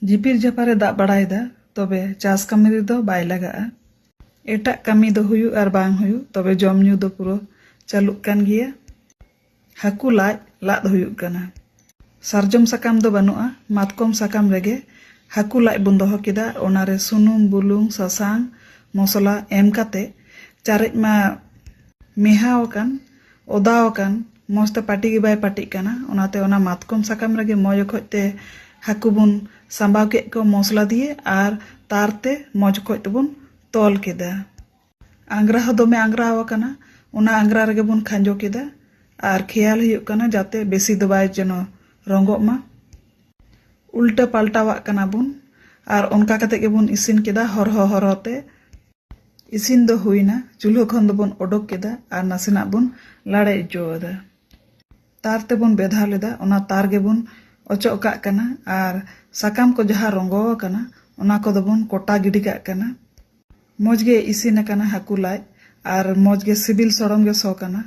ᱡᱷᱤᱯᱤᱨ ᱡᱷᱟᱯᱟᱨ ᱮ ᱫᱟᱜ ᱵᱟᱲᱟᱭᱮᱫᱟ ᱛᱚᱵᱮ ᱪᱟᱥ ᱠᱟᱹᱢᱤ ᱨᱮᱫᱚ ᱵᱟᱭ ᱞᱟᱜᱟᱜᱼᱟ ᱮᱴᱟᱜ ᱠᱟᱹᱢᱤ ᱫᱚ ᱦᱩᱭᱩᱜ ᱟᱨ ᱵᱟᱝ ᱦᱩᱭᱩᱜ ᱛᱚᱵᱮ ᱡᱚᱢ ᱧᱩ ᱫᱚ ᱯᱩᱨᱟᱹ ᱪᱟᱹᱞᱩᱜ ᱠᱟᱱ ᱜᱮᱭᱟ ᱦᱟᱹᱠᱩ ᱞᱟᱡ ᱞᱟᱫ ᱦᱩᱭᱩᱜ ᱠᱟᱱᱟ ᱥᱟᱨᱡᱚᱢ ᱥᱟᱠᱟᱢ ᱫᱚ ᱵᱟᱹᱱᱩᱜᱼᱟ ᱢᱟᱛᱠᱚᱢ ᱥᱟᱠᱟᱢ ᱨᱮᱜᱮ ᱦᱟᱹᱠᱩ ᱞᱟᱡ ᱵᱚᱱ ᱫᱚᱦᱚ ᱠᱮᱫᱟ ᱚᱱᱟᱨᱮ ᱥᱩᱱᱩᱢ ᱵᱩᱞᱩᱝ ᱥᱟᱥᱟᱝ ᱢᱚᱥᱞᱟ ᱮᱢ ᱠᱟᱛᱮ ᱪᱟᱨᱮᱡ ᱢᱟ ᱢᱮᱦᱟᱣ ᱟᱠᱟᱱ ᱚᱫᱟ ᱟᱠᱟᱱ ᱢᱚᱡᱽ ᱛᱮ ᱯᱟᱹᱴᱤ ᱜᱮ ᱵᱟᱭ ᱯᱟᱹᱴᱤᱜ ᱠᱟᱱᱟ ᱚᱱᱟᱛᱮ ᱚᱱᱟ ᱢᱟᱛᱠᱚᱢ ᱥᱟᱠᱟᱢ ᱨᱮᱜᱮ ᱢᱚᱡᱽ ᱚᱠᱚᱡ ᱛᱮ ᱦᱟᱹᱠᱩ ᱵᱚᱱ ᱥᱟᱢᱵᱟᱣ ᱠᱮᱫ ᱠᱚᱣᱟ ᱢᱚᱥᱞᱟ ᱫᱤᱭᱮ ᱟᱨ ᱛᱟᱨ ᱛᱮ ᱢᱚᱡᱽ ᱚᱠᱚᱡ ᱛᱮᱵᱚᱱ ᱛᱚᱞ ᱠᱮᱫᱟ ᱟᱝᱜᱽᱨᱟ ᱦᱚᱸ ᱫᱚᱢᱮ ᱟᱝᱜᱽᱨᱟ ᱟᱠᱟᱱᱟ ᱚᱱᱟ ᱟᱝᱜᱽᱨᱟ ᱨᱮᱜᱮ ᱵᱚᱱ ᱠᱷᱟᱸᱡᱚ ᱠᱮᱫᱟ ᱟᱨ ᱠᱷᱮᱭᱟᱞ ᱦᱩᱭᱩᱜ ᱠᱟᱱᱟ ᱡᱟᱛᱮ ᱵᱮᱥᱤ ᱫᱚ ᱵᱟᱭ ᱡᱮᱱᱚ ᱨᱚᱸᱜᱚᱜ ᱢᱟ ᱩᱞᱴᱟᱹ ᱯᱟᱞᱴᱟᱣᱟᱜ ᱠᱟᱱᱟ ᱵᱚᱱ ᱟᱨ ᱚᱱᱠᱟ ᱠᱟᱛᱮ ᱜᱮᱵᱚᱱ ᱤᱥᱤᱱ ᱠᱮᱫᱟ ᱦᱚᱨᱦᱚ ᱦᱚᱨᱦᱚ ᱛᱮ ᱤᱥᱤᱱ ᱫᱚ ᱦᱩᱭᱱᱟ ᱪᱩᱞᱦᱟᱹ ᱠᱷᱚᱱ ᱫᱚᱵᱚᱱ ᱚᱰᱚᱠ ᱠᱮᱫᱟ ᱟᱨ ᱱᱟᱥᱮᱱᱟᱜ ᱵᱚᱱ ᱞᱟᱲᱮ ᱚᱪᱚ ᱟᱫᱟ ᱛᱟᱨ ᱛᱮᱵᱚᱱ ᱵᱮᱫᱷᱟᱣ ᱞᱮᱫᱟ ᱚᱱᱟ ᱛᱟᱨ ᱜᱮᱵᱚᱱ ᱚᱪᱚᱜ ᱠᱟᱜ ᱠᱟᱱᱟ ᱟᱨ ᱥᱟᱠᱟᱢ ᱠᱚ ᱡᱟᱦᱟᱸ ᱨᱚᱸᱜᱚ ᱟᱠᱟᱱᱟ ᱚᱱᱟ ᱠᱚᱫᱚ ᱵᱚᱱ ᱠᱚᱴᱟ ᱜᱤᱰᱤ ᱠᱟᱜ ᱠᱟᱱᱟ ᱢᱚᱡᱽ ᱜᱮ ᱤᱥᱤᱱ ᱟᱠᱟᱱᱟ ᱦᱟᱹᱠᱩ ᱞᱟᱡ ᱟᱨ ᱢᱚᱡᱽ ᱜᱮ ᱥᱤᱵᱤᱞ ᱥᱚᱲᱚᱢ ᱜᱮ ᱥᱚ ᱠᱟᱱᱟ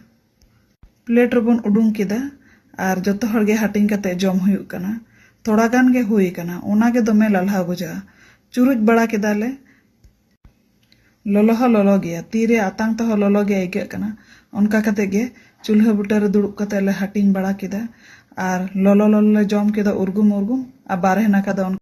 ᱯᱞᱮᱴ ᱨᱮᱵᱚᱱ ᱩᱰᱩᱝ ᱠᱮᱫᱟ ᱟᱨ ᱡᱚᱛᱚ ᱦᱚᱲ ᱜᱮ ᱦᱟᱹᱴᱤᱧ ᱠᱟᱛᱮ ᱡᱚᱢ ᱦᱩᱭᱩᱜ ᱠᱟᱱᱟ ᱛᱷᱚᱲᱟ ᱜᱟᱱ ᱜᱮ ᱦᱩᱭ ᱟᱠᱟᱱᱟ ᱚᱱᱟ ᱜᱮ ᱫᱚᱢᱮ ᱞᱟᱞᱦᱟᱣ ᱵᱩᱡᱷᱟᱹᱜᱼᱟ ᱪᱩᱨᱩᱡ ᱵᱟᱲᱟ ᱠᱮᱫᱟ ᱞᱮ ᱞᱚᱞᱚ ᱦᱚᱸ ᱞᱚᱞᱚ ᱜᱮᱭᱟ᱾ ᱛᱤ ᱨᱮ ᱟᱛᱟᱝ ᱛᱮᱦᱚᱸ ᱞᱚᱞᱚ ᱜᱮ ᱟᱹᱭᱠᱟᱹᱜ ᱠᱟᱱᱟ᱾ ᱚᱱᱠᱟ ᱠᱟᱛᱮ ᱜᱮ ᱪᱩᱞᱦᱟᱹ ᱵᱩᱴᱟᱹ ᱨᱮ ᱫᱩᱲᱩᱵ ᱠᱟᱛᱮ ᱞᱮ ᱦᱟᱹᱴᱤᱧ ᱵᱟᱲᱟ ᱠᱮᱫᱟ ᱟᱨ ᱞᱚᱞᱚ ᱞᱚᱞᱚ ᱞᱮ ᱡᱚᱢ ᱠᱮᱫᱟ ᱩᱨᱜᱩᱢ ᱩᱨᱜᱩᱢ ᱟᱨ ᱵᱟᱨᱦᱮ ᱱᱟᱠᱷᱟ ᱫᱚ ᱚᱱᱠᱟ᱾